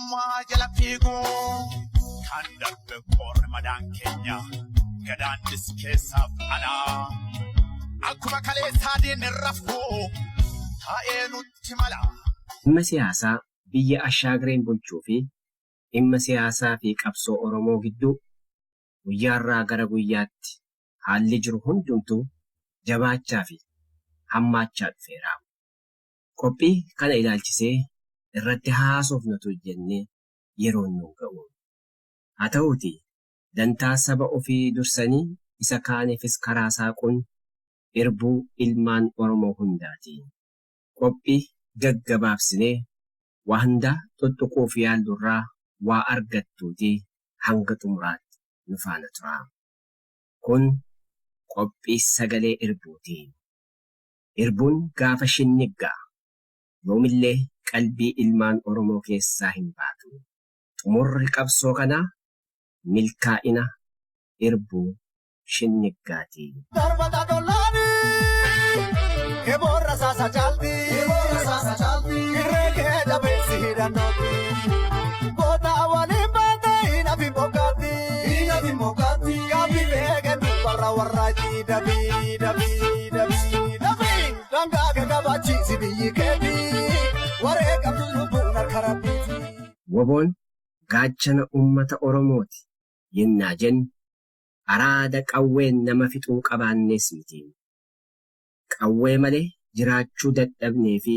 Mootummaa jala fiiguu kan darbe qoorri madaan keenya gadaannis keessaaf alaa akkuma kaleessaa diinni rafuu taa'ee nutti mala. Dhimma siyaasaa biyya Ashaagreen bulchuu fi dhimma siyaasaa fi qabsoo Oromoo gidduu guyyaarraa gara guyyaatti haalli jiru hundumtuu jabaachaa fi hammaachaa dhufeera. Qophii kana ilaalchisee irratti haasofnatu jennee yeroon nu hin ga'u. Haa ta'uutii, dantaa saba ofii dursanii isa kaaniifis karaa saaquun irbuu ilmaan Oromoo hundaati. Qophii gaggabaabsinee waa hundaa xuxxuquuf yaallurraa waa argattuutii hanga xumuraatti nu faana turaa. Kun qophii sagalee irbuuti. Irbuun gaafa shinnigga yoomillee qalbii ilmaan Oromoo keessaa hin baatu. Xumurri qabsoo kanaa milkaa'ina Irbuu Shinniggaati. Darbata dollaani Eboon rasaasa caalti Irree kee jabeessi hidhannootti Goota waliin baate hin hafin bokkaatti Gaaffii beekan dubbarra warraatti Dabii dabii dabii dabii dangaa gagabaachiisi biyyi keetii waree qabdu lubbuun harka rabbiiti. Woboon gaachana ummata Oromooti yennaa jennu araada qawween nama fixuu qabaannees miti. Qawwee malee jiraachuu dadhabnee fi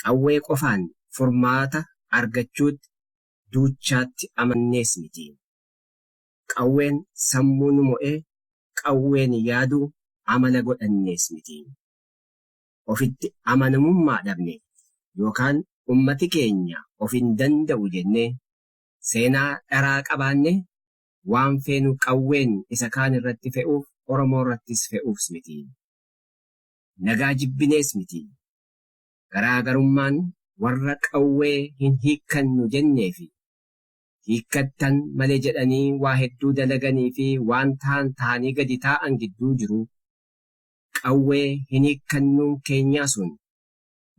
qawwee qofaan furmaata argachuutti duuchaatti amannees miti. Qawween sammuu nu mo'e, qawween yaadu amala godhannees miti. Ofitti amanamummaa dhabne yookaan ummati keenya of hin danda'u jennee seenaa dharaa qabaanne waan feenu qawween isa kaan irratti fe'uuf Oromoo irrattis fe'uufs miti. Nagaa jibbinees miti. Garaagarummaan warra qawwee hin hiikkannu jenneefi hiikkattan malee jedhanii waa hedduu dalaganii fi waan tahan tahanii gadi taa'an gidduu jiru. Qawwee hin hiikkannuun keenyaa sun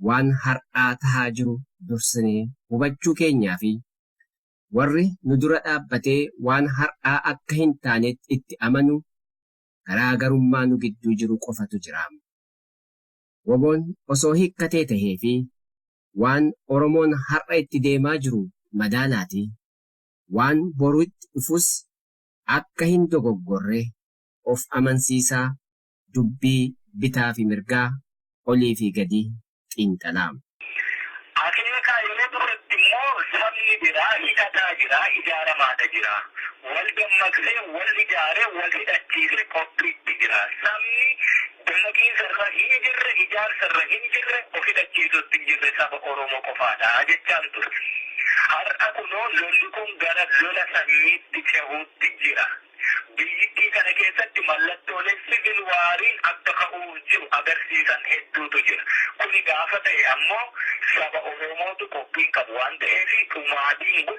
waan har'aa tahaa jiru dursinee hubachuu keenyaa fi warri nu dura dhaabbatee waan har'aa akka hin taaneetti itti amanu garaa garummaa nu gidduu jiru qofatu jira. Woboon osoo hiikkatee tahee fi waan Oromoon har'a itti deemaa jiru madaalaati waan boru itti dhufus akka hin dogoggorre of amansiisaa dubbii bitaa fi mirgaa, olii fi gadi xiinxalaa. Akeeka yeroo duratti immoo sabni biraa hidhataa jira, ijaaramaata jira. Wal dammaqsee, wal ijaaree, wal hidhachiisee qophiitti jira. Sabni. Daaqiinsa irra hin jirre, ijaarsa irra hin jirre, of hidhachiisuus hin jirre saba Oromoo qofaadha jechaan ture. Har'a kunoo lolli kun gara lola sanyiitti cehuutti jira. Biyyittii kana keessatti mallattoolee sivil waariin akka ka'uuf jiru agarsiisan hedduutu jira. Kuni gaafa ta'e ammoo saba Oromootu qophii hin qabu waan ta'eef dhumaatiin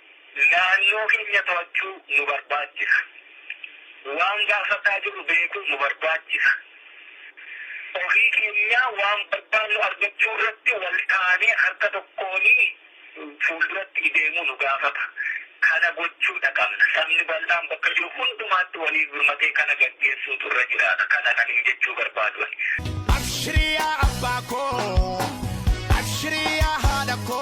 Naannoo keenya to'achuu nu barbaachisa. Waan gaafataa jirru beekuu nu barbaachisa. Ofii keenyaa waan barbaannu argachuu irratti wal taanee harka tokkoon fuulduratti ideemuu nu gaafata. Kana gochuudha qabna. Sabni bal'aan bakka jiru hundumaatti waliif birmatee kana gaggeessuutu irra jiraata. Kana kanin jechuu barbaadu ani. Abshrii yaa abbaa koo. Abshrii yaa haadha koo.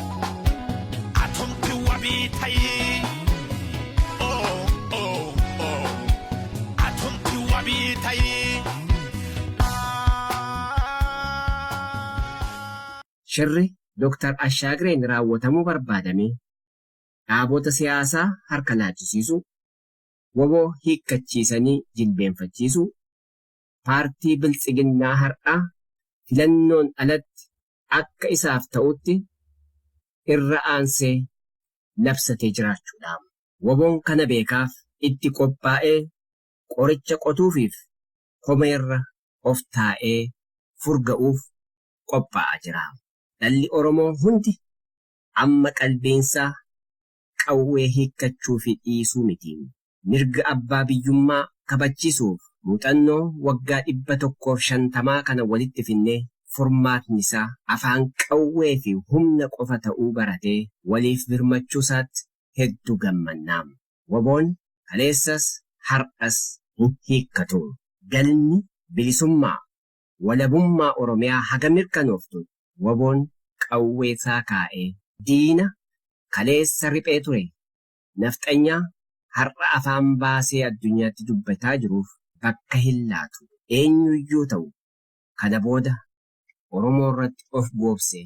Atumti wabii tayii. Oh, oh, oh. Atumti wabii tayii. Shirri Dr. Ashaagreen raawwatamuu barbaadame dhaabota siyaasaa harka laachisiisuu, wbo hiikkachiisanii jilbeenfachiisuu, paartii Biltsiginnaa har'aa filannoon alatti akka isaaf ta'utti irra aansee labsatee jiraachuudhaam. Wabon kana beekaaf itti qophaa'ee qoricha qotuufiif komeerra of taa'ee furga'uuf qophaa'aa jiraam. Dhalli Oromoo hundi amma qalbiinsaa qawwee hiikkachuu fi dhiisuu miti. Mirga abbaa biyyummaa kabachisuuf muuxannoo waggaa 150 kana walitti finnee furmaatni isaa afaan qawwee fi humna qofa ta'uu baratee waliif birmachuu isaatti heddu gammanna. Wboon kaleessas har'as hin hiikkatu. Galmi bilisummaa walabummaa Oromiyaa haga mirkanooftu wbo'n qawwee saa kaa'ee diina kaleessa riphee ture nafxanyaa har'a afaan baasee addunyaatti dubbataa jiruuf bakka hin laatu. Eenyuyyuu ta'u kana booda Oromoorratti of goobsee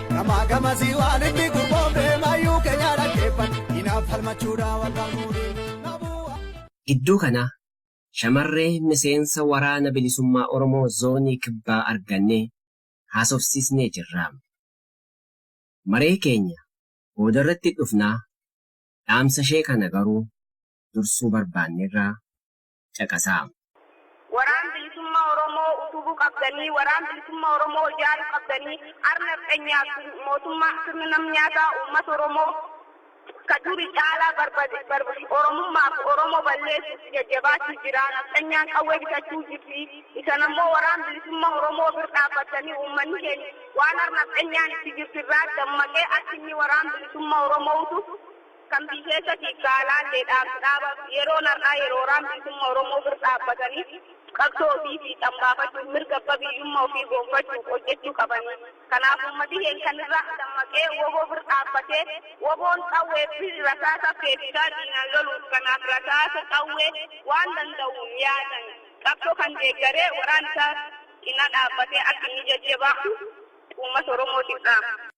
Gamaa gamasii waan itti gurgoomne mayyuu keenya dhaggeeffan inaaf falmachuudhaa waggaa fuudhee. Gidduu kana shamarree miseensa Waraana Bilisummaa Oromoo Zoonii Kibbaa argannee haasofsiisnee jirra. Maree keenya boodarratti itti dhufna, dhaamsashee kana garuu dursuu barbaanneerra caqasaa. Waraan bilisumma oromoo utubu qabdanii waraan bilisumma oromoo ijaaru qabdanii ar nafxenyaa fi mootumma sirna nam nyaata ummata oromoo ka duri caalaa barbade oromummaa fi oromoo balleessuuf jajjabaachu jira nafxenyaan qawwee bitachuu jirti isan ammoo waraan bilisumma oromoo bir dhaabbattanii ummanni keenya waan ar nafxenyaan itti jirtu irraa dammaqee akka inni waraan bilisumma oromoutu Kan biyyeessatii fi alaallee dhaabbi dhaabaf yeroon har'aa yeroo waraan bilisumma Oromoo bir dhaabbatanii qabsoo ofii fiixan baafachuuf mirga abba biyyumma ofii goonfachuuf hojjechuu qabanii. Kanaaf ummati keen kan irraa dammaqee wbo bir dhaabbatee wboon qawwee fi rasaasa feesisaa diinaan loluuf kanaaf rasaasa, qawwee, waan danda'uun yaadan qabsoo kan deeggaree waraan isaa cina dhaabbatee akka inni jajjabaatu ummata Oromootiif dhaama.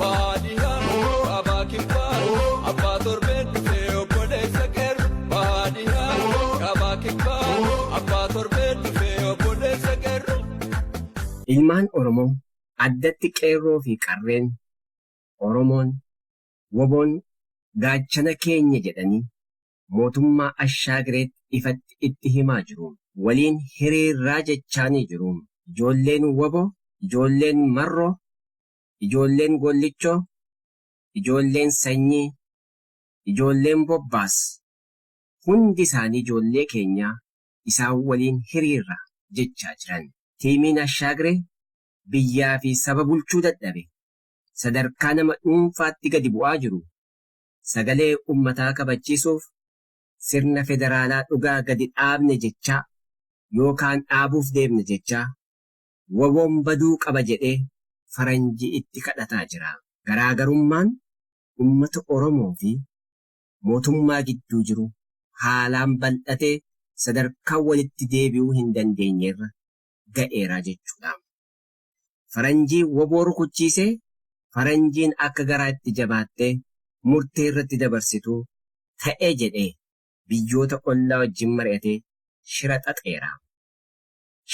Bahaa dhihaa kaabaa kibbaa abbaa torbeen dhufee obboleessa qeerru. Bahaa dhihaa kaabaa kibbaa abbaa torbeen dhufee obboleessa qeerru. Ilmaan Oromoo, addatti Qeerroo fi Qarreen Oromoon, WBOn gaachana keenya jedhanii mootummaa Ashaagireetti ifatti itti himaa jiruun, waliin hiriirraa jechaanii jiruun, ijoolleen wbo, ijoolleen Marroo ijoolleen Gollichoo, ijoolleen Sanyii, ijoolleen Bobbaas hundi isaanii ijoollee keenyaa isaan waliin hiriirra jechaa jiran. Tiimiin Ashaagre biyyaa fi saba bulchuu dadhabe sadarkaa nama dhuunfaatti gadi bu'aa jiru sagalee ummataa kabachiisuuf sirna federaalaa dhugaa gadi dhaabne jechaa yookaan dhaabuuf deemna jechaa wbon baduu qaba jedhee faranjii itti kadhataa jiraa. Garaagarummaan ummata Oromoo fi mootummaa gidduu jiru haalaan bal'atee sadarkaa walitti deebi'uu hin dandeenyerra ga'eera jechuudhaam. Faranjii wbo rukuchiisee faranjiin akka garaa itti jabaattee murtee irratti dabarsitu ta'e jedhee biyyoota ollaa wajjin mari'atee shira xaxeeraam.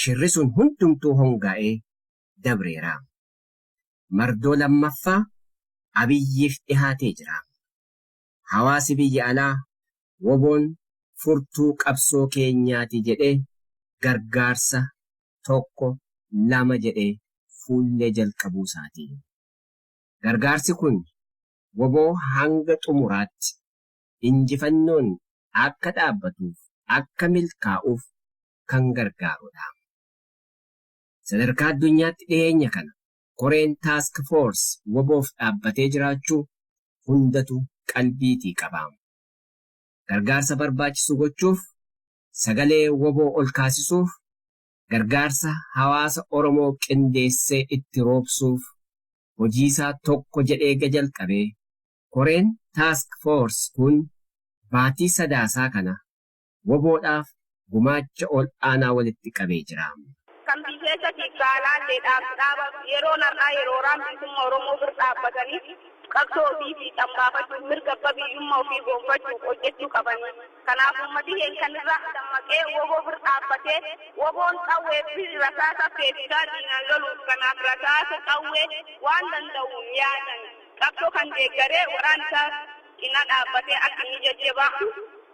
shirri sun hundumtuu hongaa'ee dabreera. Mardoo lammaffaa Abiyyiif dhihaatee jira. Hawaasi biyya alaa woboon furtuu qabsoo keenyaati jedhee gargaarsa tokko lama jedhee fuullee jalqabuusaati. Gargaarsi kun wbo hanga xumuraatti injifannoon akka dhaabbatuuf, akka milkaa'uuf kan gargaarudha. Sadarkaa addunyaatti dhiheenya kana koreen Task Force waboof dhaabbatee jiraachuu hundatu qalbiitii qaba. Gargaarsa barbaachisu gochuuf, sagalee wbo olkaasisuuf, gargaarsa hawaasa Oromoo qindeessee itti roobsuuf hojiisaa tokko jedhee ega jalqabee, koreen Task Force kun baatii Sadaasaa kana WBOdhaaf gumaacha ol aanaa walitti qabee jira. Kan biyy keessatiif gaalaallee dhaabni dhaaba yeroon har'aa yeroo waraanni bilisumma Oromoo bir dhaabbatanii qabsoo ofii fiixan baafachuuf mirga abba biyyumma ofii goonfachuuf hojjechuu qabani. Kanaaf ummati keeny kan irraa dammaqee wbo bir dhaabbatee WBOn qawwee fi rasaasa feesisaa diinaan loluuf kanaaf rasaasa, qawwee, waan danda'uun yaadaan qabsoo kan deeggaree waraana isaa cina dhaabbatee akka inni jajjabaa'u,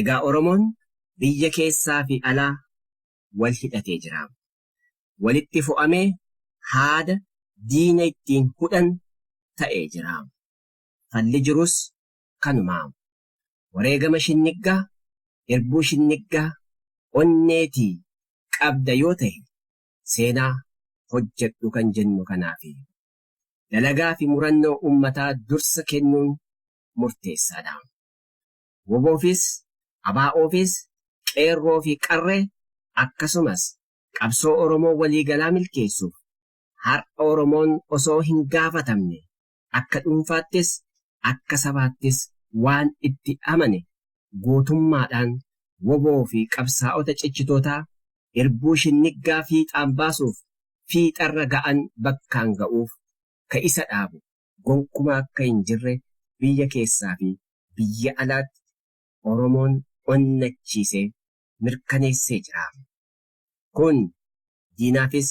Egaa Oromoon biyya keessaa fi alaa wal hidhatee jiraam. Walitti fo'amee haada diina ittiin hudhan ta'ee jiraam. Falli jirus kanumaam. wareegama shinniggaa, irbuu shinniggaa onneetii qabda yoo tahe seenaa hojjedhu kan jennu kanaafi. Dalagaa fi murannoo ummataa dursa kennuun murteessaa dha. Woboofis, ABOfis, Qeerroo fi Qarree akkasumas qabsoo Oromoo waliigalaa milkeessuuf har'a Oromoon osoo hin gaafatamne akka dhuunfaattis akka sabaattis waan itti amane gootummaadhaan wbo fi qabsaa'ota cichitootaa irbuu shinniggaa fiixaan baasuuf fiixarra ga'an bakkaan ga'uuf ka isa dhaabu gonkumaa akka hin jirre biyya keessaa fi biyya alaatti Oromoon onnachiisee mirkaneessee jira. Kun diinaafis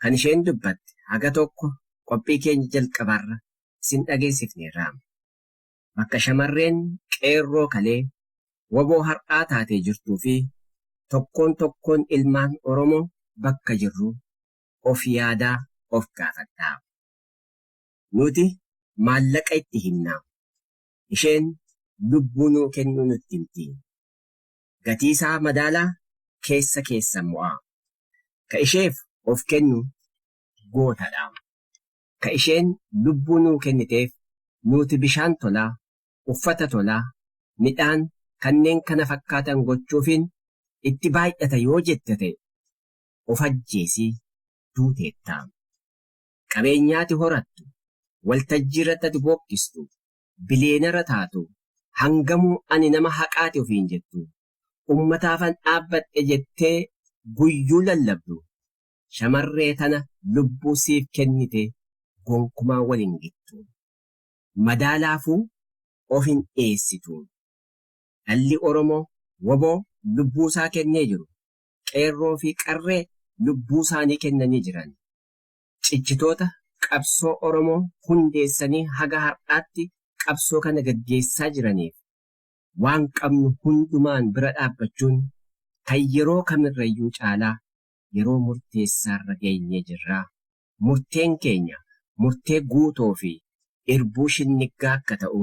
Kan isheen dubbatte haga tokko qophii keenya jalqabarra isin dhageessifneerraam. Bakka shamarreen Qeerroo kalee wbo har'aa taatee jirtuu fi tokkoon tokkoon ilmaan Oromoo bakka jirru of yaadaa of gaafadhaa. Nuti maallaqa itti himna. Isheen lubbuu nuu kennuu nutti himti. gatii isaa madaalaa keessa keessan mo'aa. Ka isheef of kennu goota dha. Ka isheen lubbuu nuu kenniteef nuuti bishaan tolaa, uffata tolaa, midhaan kanneen kana fakkaatan gochuufiin itti baay'ata yoo jette ta'e of ajjeesi duuteetta. Qabeenyaati horattu, waltajjiirratti ati bookkistu, biliyeenara taatu hangamuu ani nama haqaati ofiin jettu ummataafan dhaabbadhe jettee guyyuu lallabdu shamarree tana lubbuu siif kennite gonkumaa wal hin gittu. Madaalaafuu of hin dhiyeessitu. Dhalli Oromoo wbo lubbuusaa kennee jiru, qeerroo fi qarree lubbuusaanii kennanii jiran. cichitoota qabsoo Oromoo hundeessanii haga har'aatti qabsoo kana gaggeessaa jiraniif waan qabnu hundumaan bira dhaabbachuun kan yeroo kamirrayyuu caalaa yeroo murteessaarra geenyee jirra. Murteen keenya murtee guutoo fi irbuu shinniggaa akka ta'u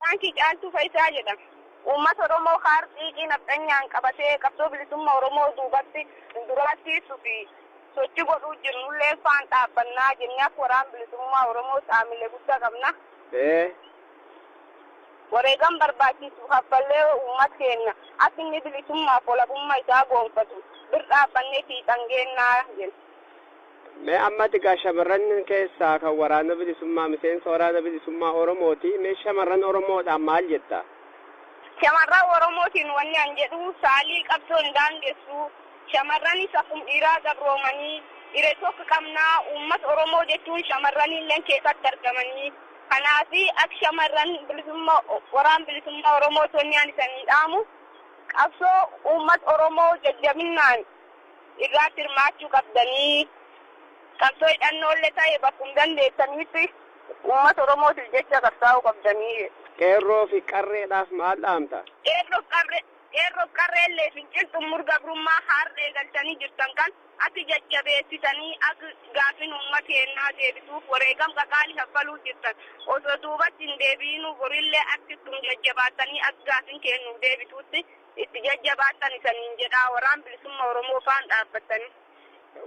Baankii Caaltuu Fayisaa jedhama. Uummata Oromoo kaar xiiqii nafxanyaan qabatee qabsoo bilisumma Oromoo duubatti duraattiissuu fi sochi godhuu jirnullee faan dhaabbannaa jennee akka Waraan Bilisummaa Oromoo xaamile gudda qabna. Wareegam barbaachiissu kaffallee uummat keenna akka inni bilisummaaf walabumma isaa goonfatu bir dhaabbannee fiixan geennaa jenna. Mee ammati gaa shamarran keessaa kan waraana bilisummaa miseensa waraana bilisummaa Oromooti. Mee shamarran Oromoodhaan maal jetta? Shamarran Oromootiin wanni an jedhu saalii qabsoo hin daangessu. Shamarranis akkum dhiiraa gabroomanii ire tokk qabna. Uummat Oromoo jechuun shamarraniilleen keesatti argamanii. Kanaafi ak shamarran bilisumma waraan bilisummaa Oromoot wanni an isanii dhaamu qabsoo uummat Oromoo jajjabinnaan. irraatti hirmaachuu qabdanii qabsoo hidhannoolle ta'e bakkum dandeettaniitti uummata Oromootiif jecha qabsaa'uu qabdanii jedhe. Qeerroo fi Qarreedhaaf maal dhaamta? Qeerroof Qarree Qeerroof Qarreellee fincil xummur gabrummaa haar'a eegaltanii jirtan kan atti jajjabeessitanii akk gaafin uumma keennaa deebituuf wareegam qaqaali kaffaluu jirtan osoo duubatti hin deebi'inuu borillee atti ittum jajjabaattanii akk gaafin keen nuuf deebituutti Itti jajjabaadhan isaniin jedhaa waraan bilisumma oromoo faan dhaabbattani.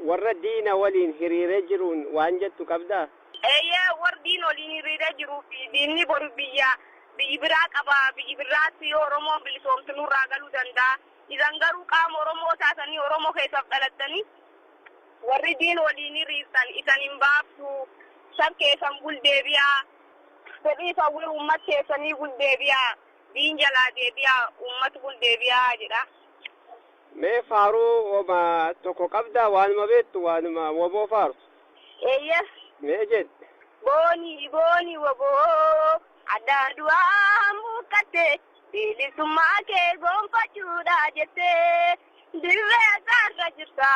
Warra diina waliin hiriiree jiruun waan jettu qabdaa? Eeyyee warri diina waliin hiriiree jiruu fi diinni boru biyya biyyi biraa qaba biyyi birraatti yoo oromoon bilisoomte nurraa galuu danda'a isan garuu qaama oromoo taatanii oromoo keessaaf dhalattanii warri diina waliin hiriirtan isan hin baaftu sab keessan gul deebi'aa fedhii fi hawwii uummat keessanii gul deebi'aa. Diin jalaa deebi'aa ummati kun deebi'aa jedha. Mee faaruu woma tokko qabdaa waanuma beektu waanuma wbo faartu? Eeyyee. Mee jedhi. Boonii boonii wbo hadhaa du'aan buqqatte bilisummaa kee goonfachuudhaa jette dirree haqaa irra jirta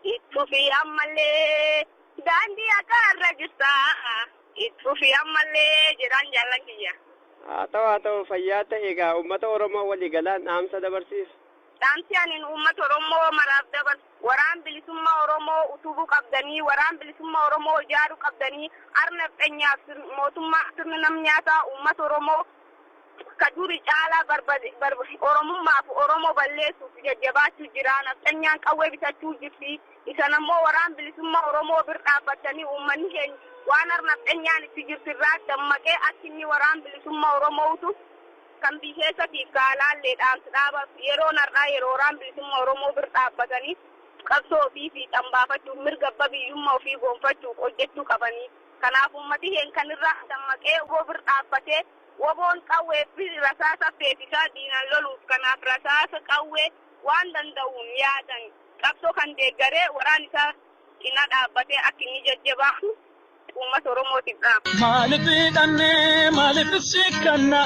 itti fufii ammallee daandii haqaa irra jirta. Itti fufi ammallee jedhaan jaallan kiyya. Haa ta'u haa ta'u fayyaa ta'i egaa uummata Oromoo walii galaan dhaamsa dabarsiif. Dhaamsi anin uummata Oromoo maraaf dabarsu waraan bilisumma Oromoo utubu qabdanii waraan bilisumma Oromoo ijaaru qabdanii ar nafxenyaaf mootummaa sirni nam nyaataa uummata Oromoo Ka duri caalaa barbade, barb, Oromummaa fi Oromoo balleessuuf jajjabaachuu jira. Nafxanyaan qawwee bitachuu jirti. Isan ammoo Waraan Bilisummaa Oromoo bir dhaabbattanii uummanni keenya waan har nafxanyaan itti jirtu irraa dammaqee akka inni Waraan Bilisummaa Oromoo utu kan biy keessatiif ka alaallee dhaamsa dhaabaaf yeroon har'aa yeroo Waraan Bilisummaa Oromoo bir dhaabbatanii qabsoo ofii fiixan baafachuuf mirga abba biyyummaa ofii goonfachuuf hojjachuu qabaniiti. Kanaaf uummati heen kan irraa dammaqee wbo bir dhaabbatee wboon qawwee fi rasaasa feesisaa diinan loluuf kanaaf rasaasa qawwee waan danda'uun yaadan qabsoo kan deeggaree waraan isaa cinaa dhaabbatee akka inni jajjabaatu uummata oromootiif dhaama. Maalif hidhannee maalif sikkannaa.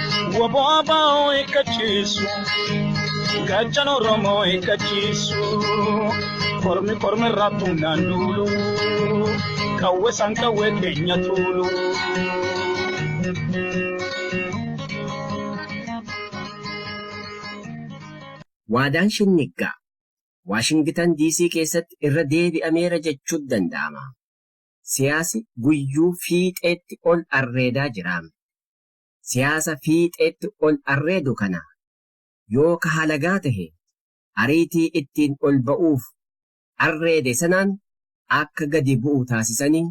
Waboo abaa'oo eeggachiisu. Gachan Oromoo eeggachiisu. Kormi kormi irraa tumnaan duulu. Qawwee san qawwee keenya tuulu. Waadaan Shinniggaa Waashingitan Diisii keessatti irra deebi'ameera jechuun danda'ama. Siyaasi guyyuu fiixeetti ol arreedaa jiraam. siyaasa fiixeetti ol arreedu kana yoo ka halagaa tahe ariitii ittiin ol ba'uuf arreede sanaan akka gadi bu'u taasisanii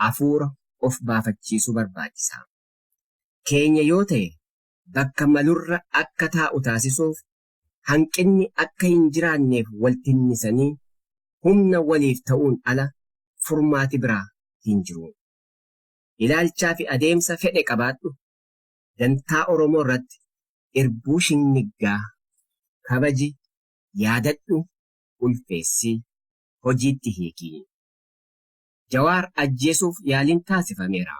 afuura of baafachiisuu barbaachisa. Keenya yoo tahe bakka malurra akka taa'u taasisuuf hanqinni akka hin jiraanneef wal tinnisanii humna waliif ta'uun ala furmaati biraa hin jiru. ilaalchaa fi adeemsa fedhe qabaadhu dantaa Oromoo irratti irbuu shinniggaa kabaji, yaadadhu, ulfeessi, hojiitti hiiki. Jawaar ajjeesuuf yaaliin taasifameera.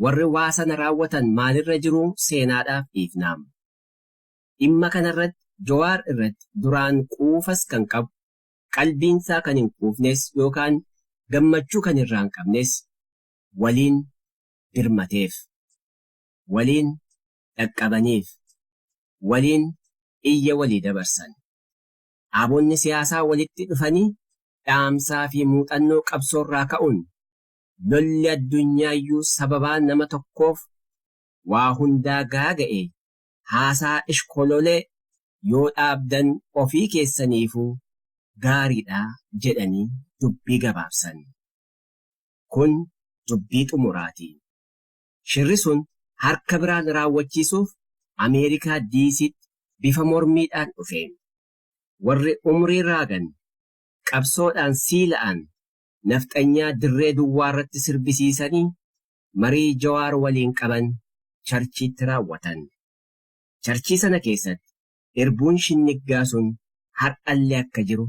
Warri waa sana raawwatan maalirra jiruu seenaadhaaf dhiifnaam. Dhimma kanarratti Jowaar irratti duraan quufas kan qabu qalbiinsaa kan hin quufnes yookaan gammachuu kan irraa hin qabnes waliin dirmateef, waliin dhaqqabaniif, waliin iyya walii dabarsan. Dhaabonni siyaasaa walitti dhufanii dhaamsaa fi muuxannoo qabsoorraa ka'uun lolli addunyaayyuu sababaa nama tokkoof waa hundaa gaaga'e haasaa ishkololee yoo dhaabdan ofii keessaniifuu gaariidha jedhanii dubbii gabaabsan. Kun dubbii xumuraati. Shirri sun harka biraan raawwachiisuuf Ameerikaa Diisiitti bifa mormiidhaan dhufe. Warri umrii raagan, qabsoodhaan siila'an nafxanyaa dirree duwwaarratti sirbisiisanii marii Jawaar waliin qaban Charchiitti raawwatan. Charchii sana keessatti irbuun shinniggaa sun har'allee akka jiru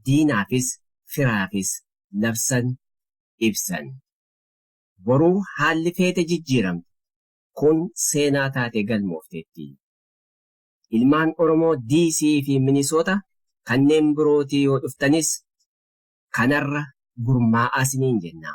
diinaafis firaafis labsan, ibsan. Boru haalli feete jijjiiramti. Kun seenaa taatee galmoofteetti. Ilmaan Oromoo DC fi Minisoota kanneen birootii yoo dhuftanis kanarra gurmaa'aa siniin jenna.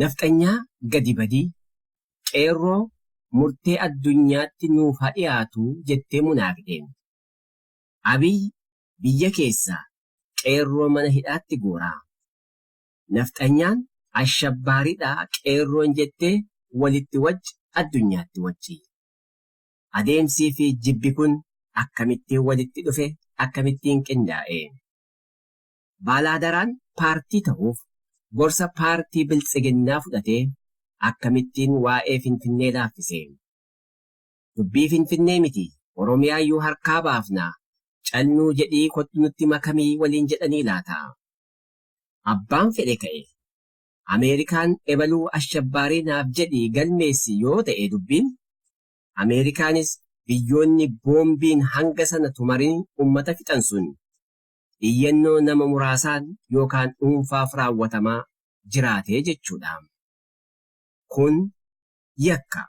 Nafxanyaa gadi badii. Qeerroo murtee addunyaatti nuuf ha dhiyaatu jettee munaaf deemte. Abiy biyya keessaa qeerroo mana hidhaatti guuraa. Nafxanyaan ashabbaariidhaa qeerroon jettee walitti wacci addunyaatti waccii. Adeemsii fi jibbi kun akkamittiin walitti dhufe, akkamittiin qindaa'e? Baalaadaraan paartii tahuuf gorsa paartii Biltsiginnaa fudhatee akkamittiin waa'ee Finfinnee laaffise? Dubbii Finfinnee miti Oromiyaayyuu harkaa baafna, cal nuu jedhii kottu nutti makami waliin jedhanii laata? Abbaan fedhe ka'e, Ameerikaan ebaluu ashabbaarii naaf jedhii galmeessi yoo ta'e dubbiin, Ameerikaanis biyyoonni boombiin hanga sana tumarin ummata fixan sun iyyannoo nama muraasaan yookaan dhuunfaaf raawwatamaa jiraate jechuudha. Kun yakka.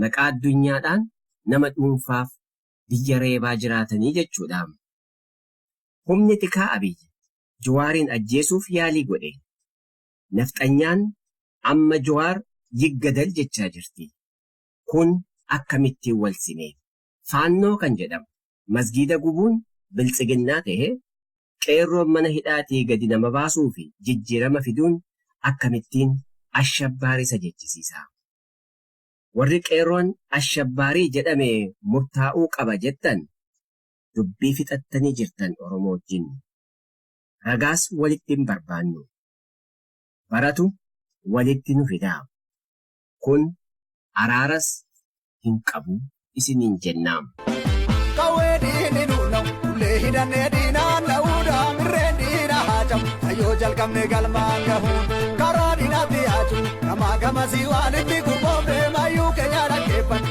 Maqaa addunyaadhaan nama dhuunfaaf biyya reebaa jiraatanii jechuudha. Humni tikaa Abiy Jawaariin ajjeesuuf yaalii godhe. Nafxanyaan amma Jawaar yiggadal jechaa jirti. Kun akkamitti wal sime? Faannoo kan jedhamu masgiida gubuun biltsiginnaa tahe, qeerroon mana hidhaatii gadi nama baasuu fi jijjiirama fiduun akkamittiin Ashabbaari isa jechisiisa? Warri qeerroon Ashabbaarii jedhame murtaa'uu qaba jettan dubbii fixattanii jirtan Oromoo wajjin. Ragaas walitti hin barbaannu. Baratu walitti nu fidaa. Kun araaras hin qabu isiniin jenna. Qawwee diinni nu na'u, ulee hidhannee diinaan na'uu daamirreen diina haa cabu. Kayyoo jalqabne galmaan gahuun karaa diinatti haa jiru. Gamaa gamasii waalitti gurgoofne maayyuu keenya dhaggeeffanna.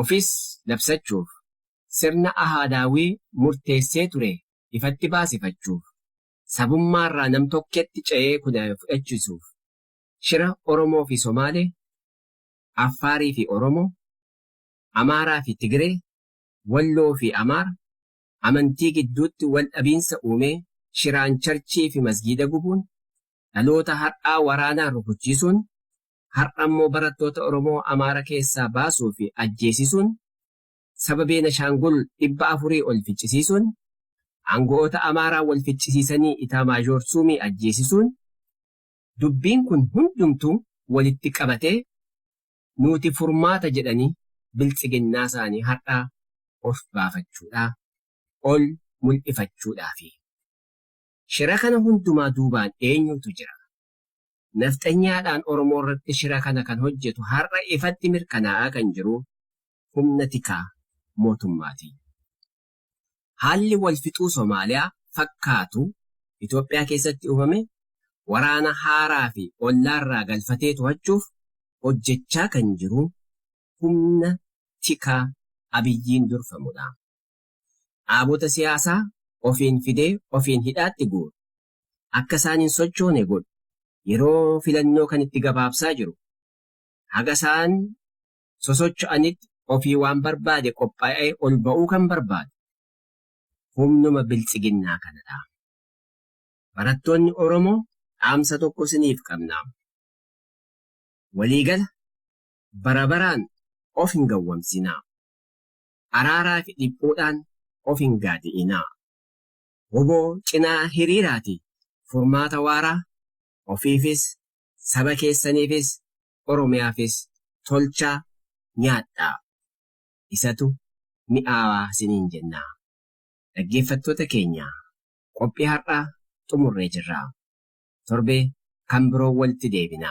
ofis labsachuuf, sirna ahaadaawwii murteessee ture ifatti baasifachuuf, sabummaarraa nam-tokketti ce'ee kudhaame fudhachiisuuf shira Oromoo fi Somaalee, Affaarii fi Oromoo, Amaaraa fi Tigiree, Walloo fi Amaara, amantii gidduutti wal dhabiinsa uumee shiraan charchii fi masgiida gubuun, dhaloota har'aa waraanaan rukuchiisuun har'a immoo barattoota Oromoo Amaara keessaa baasuu fi ajjeesisuun saba Beenashaangul 400 ol ficcisiisuun, aango'oota Amaaraa wal ficcisiisanii Itaamaazhoor Suumii ajjeesisuun dubbiin kun hundumtuu walitti qabatee nuuti furmaata jedhanii biltsiginnaa isaanii har'aa of baafachuudhaa, ol mul'ifachuudhaafi. Shira kana hundumaa duubaan eenyuutu jira? Nafxanyaadhaan Oromoo irratti shira kana kan hojjetu har'a ifatti mirkanaa'aa kan jiru humna tikaa mootummaati. Haalli wal fixuu Somaaliyaa fakkaatu Itoophiyaa keessatti uumame waraana haaraa fi ollaarraa galfatee to'achuuf hojjechaa kan jiru humna tikaa Abiyyiin durfamudha. Dhaabota siyaasaa ofiin fidee ofiin hidhaatti guuru, akka isaan hin sochoone godhu. Yeroo filannoo kan itti gabaabsaa jiru. Haga isaan sosocho'anitti ofii waan barbaade qophaa'ee ol ba'uu kan barbaadu humnuma biltsiginnaa kanadha. Barattoonni Oromoo dhaamsa tokko isiniif qabna. Waliigala bara baraan of hin gawwamsinaa. Araaraa fi dhiphuudhaan of hin gaadi'inaa. wbo cinaa hiriiraati furmaata waaraa ofiifis, saba keessaniifis, Oromiyaafis tolchaa nyaadhaa. Isatu mi'aawaa isiniin jenna. Dhaggeeffattoota keenya qophii har'aa xumurree jirra. Torbee kan biroon walitti deebina.